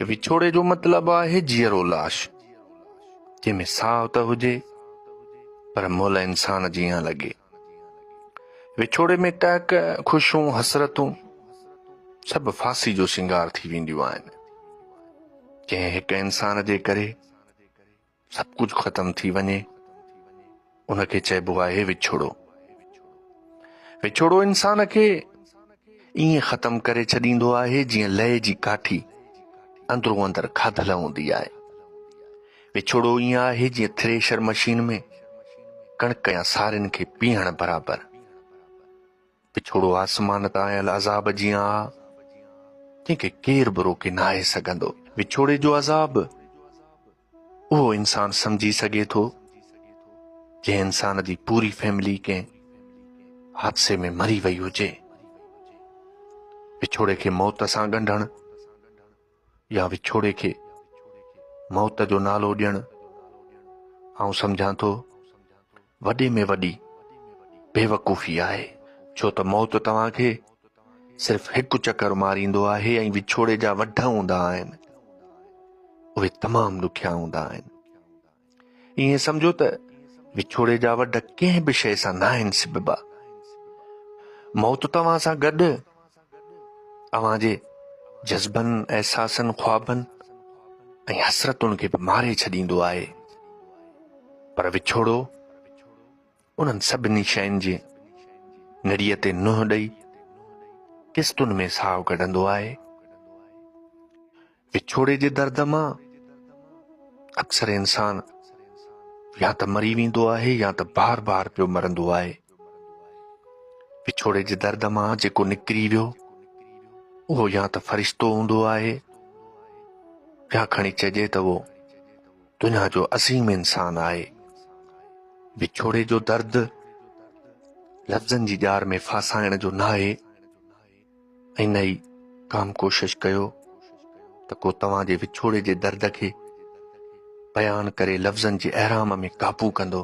وڇوڙي جو مطلب آهي جيئرو لاش، جنهن ۾ ساهه ته هجي پر مئل انسان جيان لڳي. وڇوڙي ۾ ٽهڪ، خوشون، حسرتون سڀ ڦاسي جو سينگار ٿي وينديون آهن. جنهن هڪ انسان جي ڪري سڀ ڪجهه ختم ٿي وڃي ان کي چئبو آهي وڇوڙو وڇوڙو انسان کي ائين ختم ڪري ڇڏيندو آهي جيئن لئي جي ڪاٺي اندرو اندر کاڌل هوندي آهي وڇوڙو ائين آهي جيئن ٿريشر مشين ۾ ڪڻڪ يا سارين کي پيهڻ برابر پڇوڙو آسمان تان آيل عذاب جيان آ، جنهن کي ڪير به روڪي ناهي سگهندو. وڇوڙي جو عذاب اهو انسان سمجهي سگهي ٿو، جنهن انسان جي پوري فيملي ڪنهن حادثي ۾ مري وئي هجي. وڇوڙي کي موت سان ڳنڍڻ، يا وڇوڙي کي موت جو نالو ڏيڻ آئون سمجهان ٿو وڏي ۾ وڏي بيوقوفي آهي ڇو ته موت توهان کي صرف هڪ چڪر ماريندو آهي ۽ وڇوڙي جا وڍ هوندا آهن اهي تمام ڏکيا هوندا آهن ائين سمجهو ته وڇوڙي جا وڍ ڪنهن به شيء سان ناهن سببا موت توهان سان گڏ اوهان جي جذبن احساسن خوابن ۽ حسرتن کي به ماري ڇڏيندو آهي پر وڇوڙو انهن سڀني شين جي نڙيء تي نوح ڏئي قسطن ۾ ساهو ڪڍندو آهي وڇوڙي جي درد مان اڪثر انسان يا ته مري ويندو آهي يا ته بار بار پيو مرندو آهي وڇوڙي جي درد مان جيڪو نڪري ويو اهو يا ته فرشتو هوندو آهي يا کڻي چئجي ته اهو دنيا جو عظيم انسان آهي وڇوڙي جو درد لفظن جي ڄار ۾ ڦاسائڻ جو ناهي ۽ نه ئي ڪام ڪوشش ڪيو ته ڪو توهان جي وڇوڙي جي درد کي بيان ڪري لفظن جي احرام ۾ قابو ڪندو.